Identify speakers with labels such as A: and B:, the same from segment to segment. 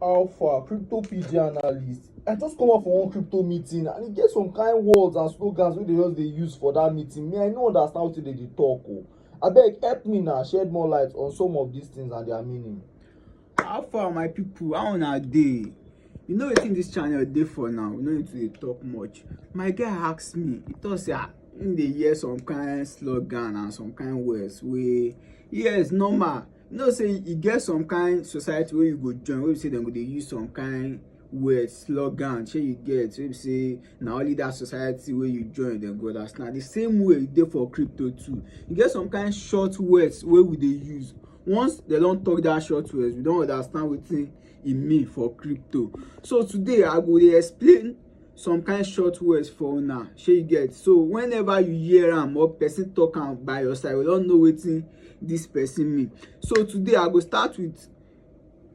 A: How far, crypto PG analyst? I just come out for one crypto meeting and e get some kind words and slogans wey dey just dey use for that meeting. Me, I no understand wetin dey dey talk o. Oh. Abeg help me na shed more light on some of these things and their meaning. How far my people, how una dey? You know wetin this channel dey for now, we no need to dey talk much. My guy ask me, he talk say ah, him dey hear some kind slogan and some kind words wey yes normal you know say e get some kind society wey you go join wey be say dem go dey use some kind word slogan shey you get wey be say na only that society wey you join dem go understand the same way e dey for crypto too e get some kind short words wey we dey use once dem don talk that short words we don understand wetin e mean for crypto so today i go dey explain some kind short words for una shey you get so whenever you hear am or person talk am by your side you don know wetin this person mean so today i go start with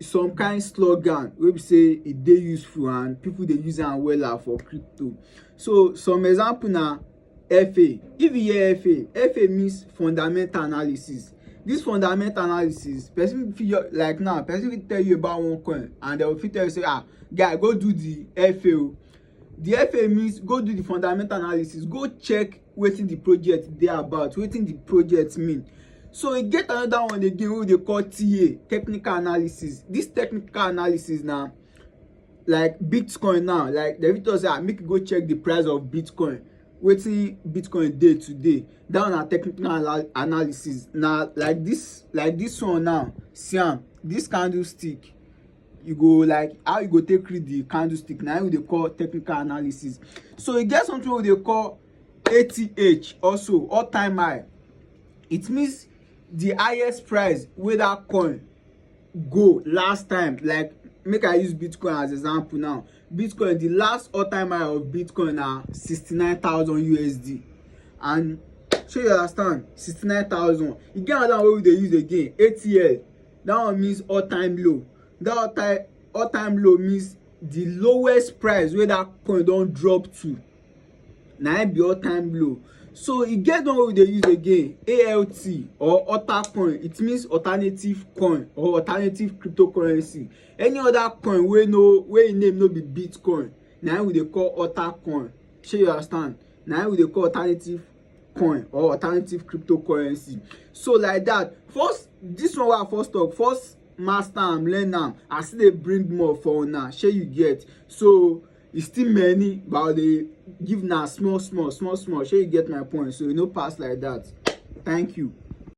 A: some kind slogan wey be say e dey useful and people dey use am wella for crypto so some example na FA. If you hear FA, FA means fundamental analysis. This fundamental analysis, person fit like now, person fit tell you about one coin and they will fit tell you say, ah, guy, go do the FA. Oh. The FA means go do the fundamental analysis, go check wetin the project dey about, wetin the project mean. So e get another one again wey we dey call TA, technical analysis. This technical analysis na like bitcoin now like dem fit talk say ah make you go check the price of bitcoin wetin bitcoin dey today that one na technical analysis na like this like this one now see am this candlestick you go like how you go take read the candlestick na we dey call technical analysis so e get something we dey call ath also all time high it means the highest price wey that coin go last time like make i use bitcoin as example now bitcoin the last all time high of bitcoin na 69000 usd and shey you understand 69000 e get another one wey we dey use again atl that one means all time low that all time all time low means the lowest price wey that coin don drop to na im be all time low so e get one wey we dey use again alt or alter coin it means alternative coin or alternative cryptocurrency any other coin wey no wey im name no be bitcoin na im we dey call alter coin shey you understand na im we dey call alternative coin or alternative cryptocurrency so like that first this one wey i first talk first master am learn am i still dey bring more for una shey you get so e still many but i dey give na small small small small shey you get my point so e no pass like that thank you